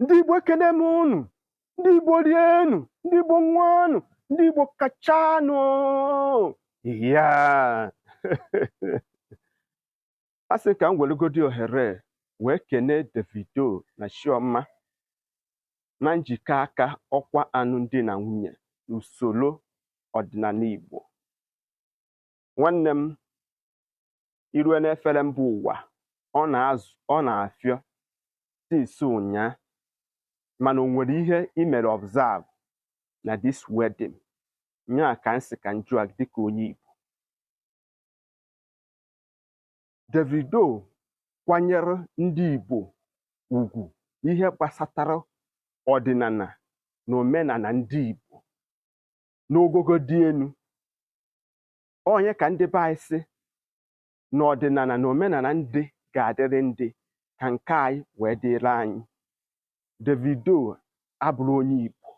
ndị Igbo ekene m unu ndị Igbo rienu ndị Igbo nwụanụ ndị Igbo kachanụ yaa asị m ka m weregodi ohere wee kene Davido na Chioma na njikọ aka ọkwa alụmdi na nwunye n'usoro ọdịnala Igbo nwanne m irue n'efere mba ụwa ọ na-afịọ since ụnyaa mana o nwere ihe i mere observe na this wedding nyaa ka m sị ka m jụọ gị dịka onye Igbo Davido kwanyere ndị Igbo ugwu ihe gbasatara ọdịnala na omenala ndị Igbo n'ogogo dị elu ọ nya ka ndị be anyị sị na ọdịnala na omenala ndị ga-adịrị ndị ka nke anyị wee dịrị anyị Davido abụrọ onye Igbo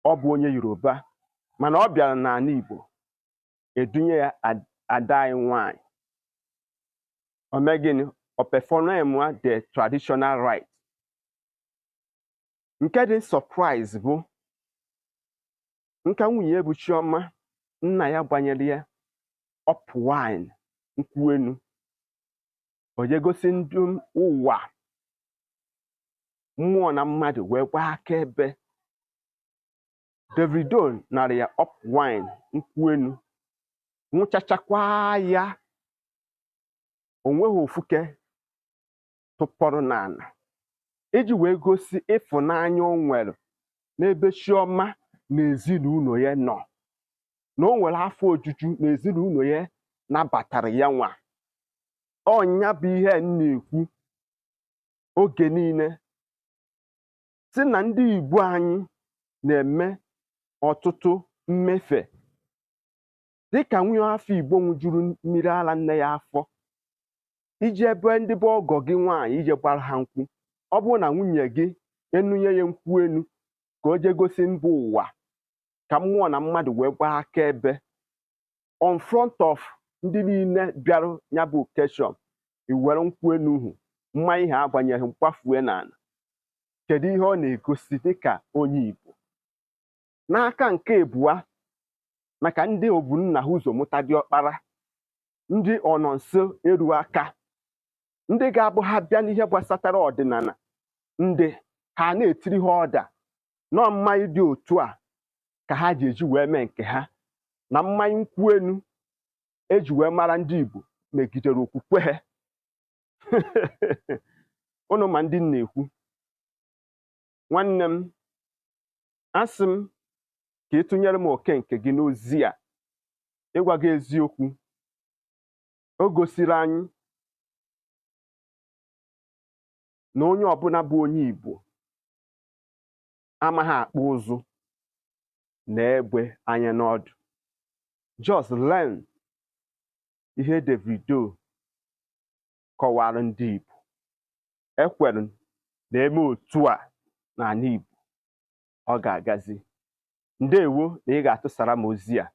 ọ bụ onye Yoruba mana ọ bịara n'ala Igbo edunye ya ada anyị nwanyị o mee gịnị ọ performwa the traditional rite nke dị surprise bụ na ka nwunye bụ Chioma nna ya gbanyere ya up wine nkwụ enu o je gosi ndị ụwa mmụọ na mmadụ wee gbaa akaebe Davido nara ya up wine nkwụ enu nwụchachakwa ya o nweghị ofu nke tụpọrọ n'ala iji wee gosi ịfụnanya o nwere n'ebe Chioma na ezinụlọ ya nọ na o nwere afọ ojuju na ezinụlọ ya nabatara ya nwa ọ nya bụ ihe m na-ekwu oge niile sị na ndị Igbo anyị na-eme ọtụtụ mmefe dịka nwa afọ Igbo nwụjuru mmiri ara nne ya afọ i je ebe ndị be ọgọ gị nwaanyị i je gbara ha nkwụ ọ bụrụ na nwunye gị enunye ya nkwụ enu ka o jee gosi mba ụwa ka mmụọ na mmadụ wee gbaa akaebe on front of ndị niile bịara nya bụ occasion i were nkwụ enu ahụ mmanya a gbanyere gị gbafue n'ala kedu ihe ọ na-egosi dịka onye Igbo n'aka nke ebua maka ndị obu nna ha ụzọ mụta diọkpara ndị ọnọ nso eru aka ndị ga-abụ ha bịa n'ihe gbasatara ọdịnala ndị ụka ha na-etiri ha order na ọ mmanya dị otu a ka ha ji eji wee mee nke ha na mmanya nkwụ enu e ji wee mara ndị Igbo megidere okwukwe ha unu ma ndị na-ekwu nwanne m asị m ka ị tụnyere m oke nke gị n'ozi a ịgwa gị eziokwu o gosiri anyị na onye ọbụla bụ onye Igbo amaghị akpụ ụzụ nee egbe anya n'ọdụ just learn ihe Davido kọwara ndị Igbo ekwere m na e mee otu a n'ala Igbo ọ ga-agazi ndewo na ị ga-atụsara m ozi a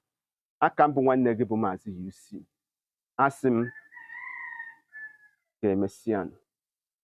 aka m bụ nwanne gị bụ maazị UC asị m ka emesịa nụ